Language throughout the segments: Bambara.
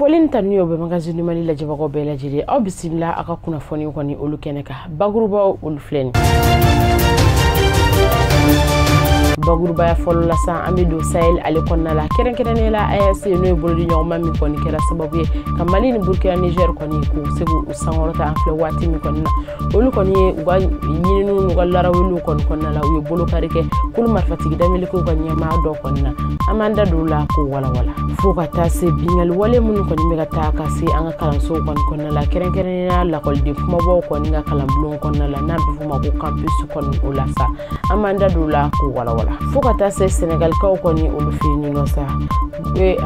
foli ni tanu y'o bɛ magazini mali lajɛbagaw bɛɛ lajɛlen aw bisimila a ka kunnafoni kɔni olu kɛnɛ kan bakurubaw olu filɛ nin bakurubaya fɔlɔ la sa an bɛ don sahel ale kɔnɔna la kɛrɛnkɛrɛnnenya la AES n'o ye bolodi ɲɔgɔnma min kɔni kɛra sababu ye ka mali ni burkina niger kɔni k'u se k'u sankɔrɔta an filɛ waati min kɔni na olu kɔni ye u ka ɲininiw n'u ka larawuliw kɔni kɔnɔna la u ye bolokari kɛ kulu marifatigi damelikew ka ɲɛmaa dɔ kɔni na an b'an da don o la k'o walawala fɔɔ ka taa se binkanniwale minnu kɔni bɛ ka taa ka se an ka kalansow kɔni kɔnɔna la kɛrɛnkɛrɛnnenya lakɔliden kunbabaw kɔni ka kalanbulon kɔnɔna la n'a bɛ f'o ma ko campus kɔni o la sa an b'an da don o la k'o walawala fɔɔ ka taa se sɛnɛgalikaw kɔni olu fɛ yen nɔ sa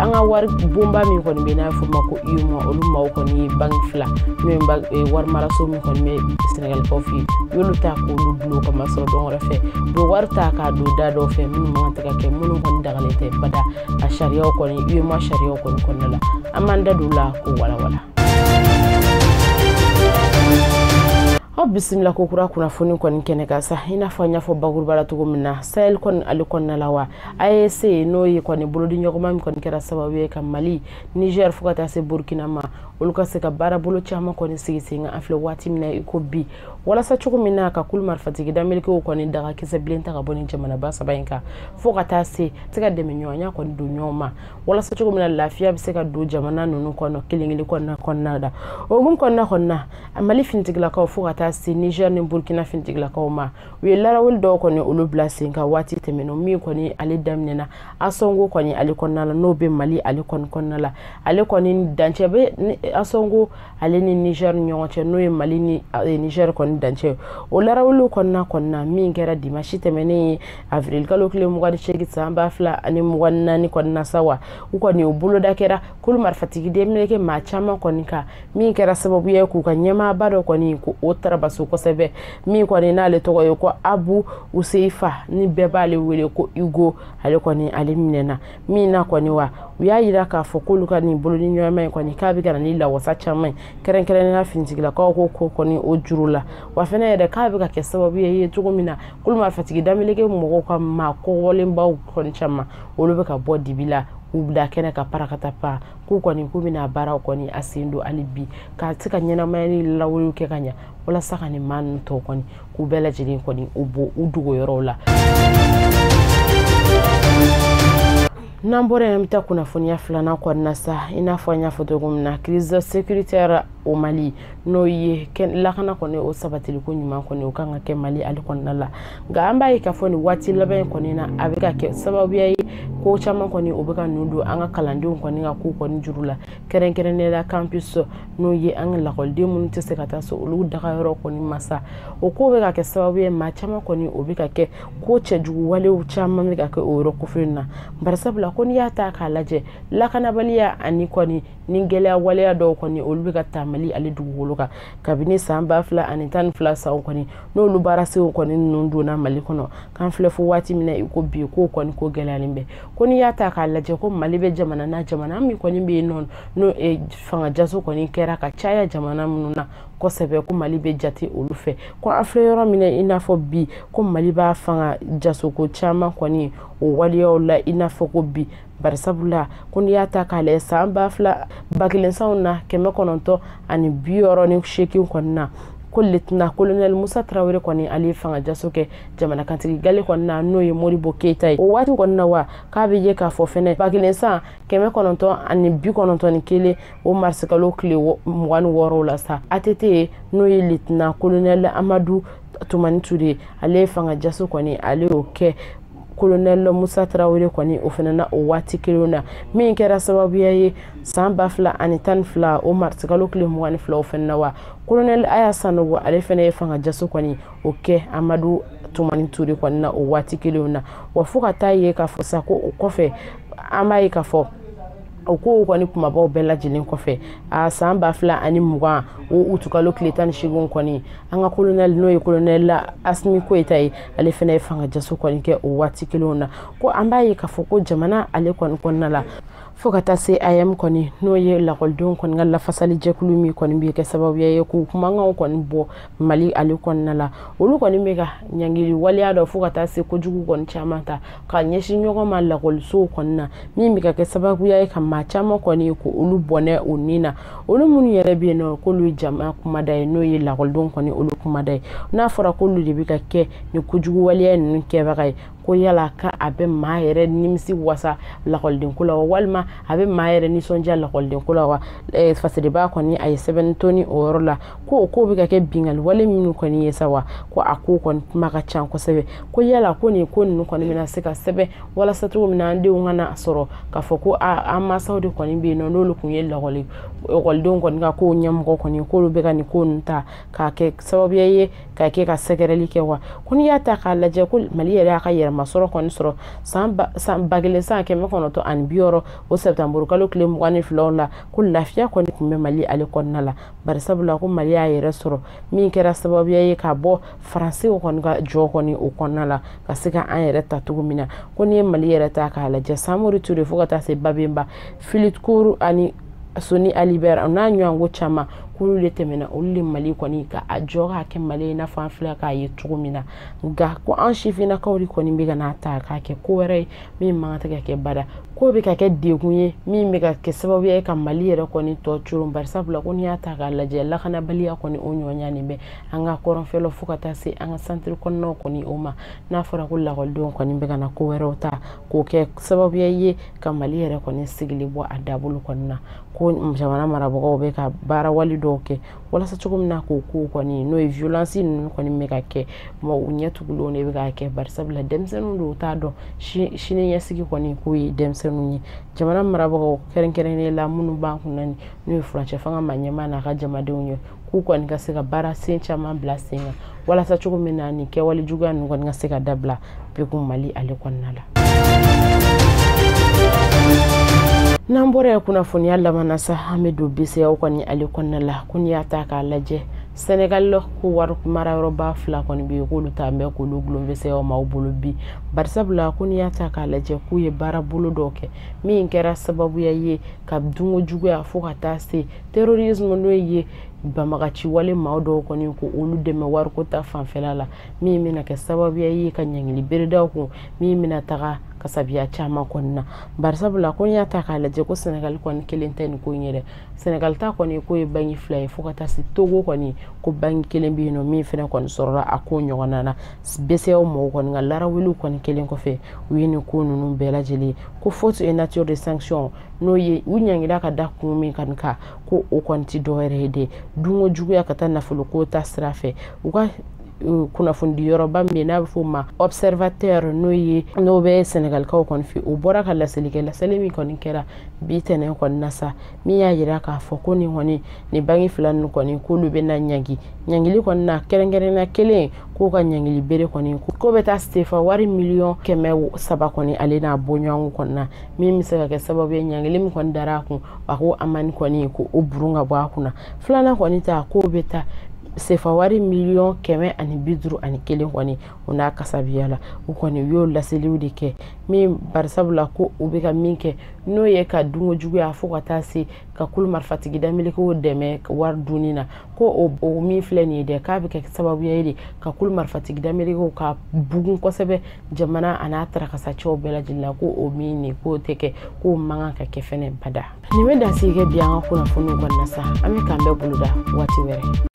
an ka wari bonba min kɔni bɛ n'a f'o ma ko UEMOA olu maaw kɔni ye banki fila n'o ye wari maraso min kɔni bɛ sɛnɛgalikaw fɛ yen u y'olu ta k'olu dulon k'o masɔrɔ dɔn wɛrɛ fɛ u bɛ wari ta k'a don da dɔw fɛ minnu man kan tɛ ka kɛ minnu kɔni dagalen tɛ bada a sariyaw kɔni UEMOA sariyaw kɔni kɔnɔna la an b'an da don o la k'o walawala. aw bisimila kokura kunnafoni kɔni kɛnɛ kan sa i n'a fɔ n y'a fɔ bakuruba la cogo min na sahel kɔni ale kɔnɔna la wa AES n'o ye kɔni bolodiɲɔgɔnma min kɔni kɛra sababu ye ka Mali, Niger fo ka taa se Burkina ma, olu ka se ka baarabolo caman kɔni sigi sen kan an filɛ waati min na i ko bi, walasa cogo min na ka kulu marifatigi damelikew kɔni daga kisɛbilen ta ka bɔ nin jamanaba saba in kan fo ka taa se se ka dɛmɛɲɔgɔnya kɔni don ɲɔgɔn ma, walasa cogo min na lafiya bɛ se ka don jamana ninnu kɔnɔ kelen kelen kɔnɔna kɔnɔna la. O hukumu kɔnɔna kɔni na, Mali finitigilakaw fo ka taa se Niger ni Burkina finitigilakaw ma u ye larawuli dɔw kɔni olu bila sen kan waati tɛmɛnenw min kɔni ale daminɛna ansongo kɔni ale kɔnɔna la n'o bɛ mali ale kɔni kɔnɔna la ale kɔni dancɛ bɛ ansongo ale ni niger ni ɲɔgɔn cɛ n'o ye mali ni eh, niger kɔni dancɛ o larawuliw kɔnɔna kɔnɔna min kɛra dimasi tɛmɛnen ye avril kalo tile mugan ni seegin san ba fila ani mugan ni naani kɔnɔna sa wa u kɔni o boloda kɛra kulu marifatigi denmeleke maa caman kɔni kan min kɛra sababu ye k'u ka ɲɛmaaba dɔ kɔni ko o tarabaso kosɛbɛ min kɔni n'ale tɔgɔ ye ko abu huzeifa ni bɛɛ b'ale wele ko hugo ale kɔni ale minɛna min na kɔni wa u y'a yira k'a fɔ k'olu ka nin bolodi ɲɔgɔnma ye kɔni k'a bɛ ka na ni lawasa caman ye kɛrɛnkɛrɛnnenya finitigilakaw ko ko kɔni o juru la wa fana yɛrɛ k'a bɛ ka kɛ sababu ye ye cogo min na kulu marifatigi dameleke mɔgɔw ka maa kɔgɔlenbaw kɔni caman olu bɛ ka bɔ dibi la k'u bila kɛnɛ kan parakata pan k'u kɔni k'u bɛna baaraw kɔni a sen don hali bi ka se ka ɲɛnamaya ni lawuliw kɛ ka ɲa walasa ka nin maa ninnu tɔw kɔni k'u bɛɛ lajɛlen kɔni u bɔ u dogoyɔrɔw la n'an bɔra yen an bɛ taa kunnafoniya filanan kɔnɔna sa i n'a fɔ an y'a fɔ cogo min na crise sécuritaire au mali n'o ye lakana kɔni o sabatiliko ɲuman kɔni o kan ka kɛ mali ale kɔnɔna la nka an b'a ye k'a fɔ nin waati laban in kɔni na a bɛ ka kɛ sababuya ye ko caman kɔni o bɛ ka nun don an ka kalandenw kɔni ka ko kɔni juru la kɛrɛnkɛrɛnnenya la campus n'o ye an ka lakɔliden minnu tɛ se ka taa so olu dagayɔrɔ kɔni masa o ko bɛ ka kɛ sababu ye maa caman kɔni o bɛ ka kɛ ko cɛjugu walew caman bɛ ka kɛ o yɔrɔ kofɔlen na barisabula ko n'i y'a ta k'a lajɛ lakanabaliya ani kɔni ni gɛlɛya waleya dɔw kɔni olu bɛ ka taa mali ale dugukolo kan kabini san ba fila ani tan ni fila sanw kɔni n'olu baarasew kɔni ninnu donna mali kɔnɔ k'an filɛ fo waati min na i ko bi k'o kɔni ko gɛlɛyalen bɛ ko n'i y'a ta k'a lajɛ ko mali bɛ jamana na jamana min kɔni bɛ yen nɔ n'o eh, fanga jaso kɔni kɛra ka caya jamana minnu na kosɛbɛ ko mali bɛ jate olu fɛ ko an filɛ yɔrɔ min na i n'a fɔ bi ko mali b'a fanga jasoko caman kɔni o waleyaw la i n'a fɔ ko bi barisabula ko n'i y'a ta k'a lajɛ san ba fila ba kelen sanw na kɛmɛ kɔnɔntɔn ani bi wɔɔrɔ ni seegin kɔni na ko litina kolonɛli musa tarawele kɔni ale ye fangajaso kɛ jamanakuntigi galɛ kɔni na n'o ye modibo keyita ye o waati kɔni na wa k'a bɛ ye k'a fɔ fɛnɛ ba kelen san kɛmɛ kɔnɔntɔn ani bi kɔnɔntɔn ni kelen o marisikalo tile mugan ni wɔɔrɔw la sa att n'o ye litina kolonɛli amadu tumani ture ale ye fangajaso kɔni ale y'o kɛ kolonɛli musa tarawele kɔni o fana na o waati kelen na min kɛra sababuya ye san ba fila ani tan ni fila o marisikalo tile mugan ni fila o fana na wa kolonɛli aya sanogo ale fana ye fanga jaso kɔni o kɛ amadu tumani ture kɔni na o waati kelenw na wa fo ka taa ye k'a fɔ sa ko o kɔfɛ an b'a ye k'a fɔ o kow kɔni kumabaw bɛɛ lajɛlen kɔfɛ a san ba fila ani mugan o utukalo tile tan ni seeginw kɔni an ka kolonɛli n'o ye kolonɛli la asimi goyita ye ale fana ye fanga jaso kɔni kɛ o waati kelenw na ko an b'a ye k'a fɔ ko jamana ale kɔni kɔnɔna la fo ka taa se aeem kɔni n'o ye lakɔlidenw kɔni ka lafasali jɛkulu min kɔni bɛ kɛ sababuya ye k'u kumakanw kɔni bɔ mali ale kɔnɔna la olu kɔni bɛ ka ɲangili waleya dɔ fo ka taa se kojugu kɔni caman ta ka ɲɛsin ɲɔgɔn ma lakɔlisow kɔni na min bɛ ka kɛ sababuya ye ka maa caman kɔni ko olu bɔnɛ u ni na olu minnu yɛrɛ bɛ yen nɔ k'olu ye jama kumada ye n'o ye lakɔlidenw kɔni olu kumada ye n'a fɔra k'olu de bɛ ka kɛ nin kojugu waleya ninnu kɛbaga ye ko yala ka a bɛ maa yɛrɛ nimisi wa sa lakɔlidenko la wa walima a bɛ maa yɛrɛ nisɔndiya lakɔlidenko la wa fasadebaa kɔni a ye sɛbɛnni toni o yɔrɔ la ko o ko bɛ ka kɛ binkanni wale minnu kɔni ye sa wa ko a ko kɔni kuma ka ca kosɛbɛ ko yala ko nin ko ninnu kɔni bɛna se ka sɛbɛn walasa cogo min na an denw kana sɔrɔ k'a fɔ ko an mansaw de kɔni bɛ yen nɔ n'olu tun ye lakɔli ekɔlidenw kɔni ka kow ɲɛmɔgɔ kɔni k'olu bɛ ka nin ko ninnu ta k'a kɛ sababuya ye ka kɛ ka sɛgɛrɛli kɛ wa ko n'i y'a ta k'a lajɛ ko mali yɛrɛ y'a ka yɛrɛmasɔrɔ kɔni sɔrɔ san ba kelen san kɛmɛ kɔnɔntɔn ani bi wɔɔrɔ o sɛtanburukalo tile mugan ni filaw la ko lafiya kɔni tun bɛ mali ale kɔnɔna la bari sabula ko mali y'a yɛrɛ sɔrɔ min kɛra sababuya ye ka bɔ faransi kɔni ka jɔ kɔni o kɔnɔna la ka se ka an yɛrɛ ta cogo min na ko n'i ye mali yɛrɛ ta k'a lajɛ samori ture fo ka taa se babenba filitkoru ani soni ali bɛr o n'a ɲɔgɔn ko caman k'olu de tɛmɛnna olu de mali kɔni ka a jɔ k'a kɛ mali ye i n'a fɔ an filɛ k'a ye cogo min na nka ko an sifinnakaw de kɔni bɛ ka n'a ta k'a kɛ ko wɛrɛ ye min man kan tɛ ka kɛ bada k'o bɛ ka kɛ degun ye min bɛ ka kɛ sababu ye ka mali yɛrɛ kɔni tɔ coron bari sabula ko n'i y'a ta k'a lajɛ lakanabaliya kɔni o ɲɔgɔnya nin bɛ an ka kɔrɔnfɛlaw fo ka taa se an ka santiri kɔnɔnaw kɔni o ma n'a fɔra ko lakɔlidenw kɔni bɛ ka na ko wɛrɛw ta k'o kɛ sababuya ye ka mali yɛrɛ kɔni sigili bɔ a dabolo kɔni na ko jamana marabagaw bɛ ka baara wale dɔw kɛ walasa cogo min na k'o ko kɔni n'o ye violence ninnu kɔni bɛ ka kɛ u ɲɛ tugulenw de bɛ k'a kɛ barisabula denmisɛnninw don u t'a dɔn sini ɲɛsigi kɔni k'o ye denmisɛnninw ye jamana marabagaw kɛrɛnkɛrɛnnen la minnu b'an kun na n'o ye furancɛ fanga ma ɲɛmaa n'a ka jamadenw ye k'u kɔni ka se ka baara sen caman bila sen kan walasa cogo min na nin kɛwale juguya ninnu kɔni ka se ka dabila pewu mali ale kɔnɔna la n'an bɔra yen kunnafoniya laban na sa an bɛ don bceao kɔni ale kɔnɔna la ko n'i y'a ta k'a lajɛ sɛnɛgali la ko wari mara yɔrɔba fila kɔni bɛ yen k'olu ta bɛ k'olu gulon bceao maaw bolo bi barisabula ko n'i y'a ta k'a lajɛ k'u ye baara bolo dɔw kɛ min kɛra sababuya ye ka dunko juguya fo ka taa se terrorisme n'o ye banbagaci wale maa dɔw kɔni ko olu dɛmɛ wariko ta fanfɛla la min bɛna kɛ sababuya ye ka ɲangili bere da u kun min bɛna taga kasabiya caman kɔni na barisabula ko n'i y'a ta k'a lajɛ ko sɛnɛgali kɔni kelen tɛ nin ko in yɛrɛ sɛnɛgali ta kɔni k'o ye banki fila ye fo ka taa se togo kɔni ko banki kelen bɛ yen nɔ min fɛnɛ kɔni sɔrɔla a ko ɲɔgɔnna na bceao mɔgɔw kɔni ka laraweliw kɔni kɛlen kɔfɛ u ye nin ko ninnu bɛɛ lajɛlen ko faute et nature de sanction n'o ye u ɲangila ka da kun min kɔni kan ko o kɔni tɛ dɔwɛrɛ ye dɛ dunko juguya ka taa nafolo ko ta sira fɛ u ka euh, kunnafonidi yɔrɔba min bɛ n'a bɛ fɔ o ma observateur n'o ye n'o bɛ sɛnɛgalikaw kɔni fɛ o bɔra ka laseli kɛ laseli min kɔni kɛra bi tɛnɛn kɔni na sa min y'a jira k'a fɔ ko nin kɔni nin banki fila ninnu kɔni k'olu bɛ na ɲangi ɲangili kɔni na kɛrɛnkɛrɛnna kelen k'o ka ɲangili bere kɔni k'o bɛ taa sefa wari miliyɔn kɛmɛ saba kɔni ale n'a bɔɲɔgɔnko kɔni na min bɛ se ka kɛ sababu ye ɲangili min kɔni dara a kun a ko amandi kɔni ko o burun ka bɔ a kunna filanan kɔni ta k'o bɛ taa sefa wari miliyɔn kɛmɛ ani bi duuru ani kelen kɔni o n'a kasabiya la u kɔni u y'o laseliw de kɛ min barisabula ko u bɛ ka min kɛ n'o ye ka dunko juguya fo ka taa se ka kulu marifatigi damilikew dɛmɛ wari dunni na ko o, o min filɛ nin ye dɛ k'a bɛ kɛ sababuya ye de ka kulu marifatigi damilikew ka bugun kosɛbɛ jamana a n'a tarakasacɛw bɛɛ lajɛlen la ko o min nin k'o tɛ kɛ k'o man kan ka kɛ fɛnɛ bada nin bɛ dansigi kɛ bi an ka kunnafoniw kɔni na sa an bɛ k'an bɛn boloda waati wɛrɛ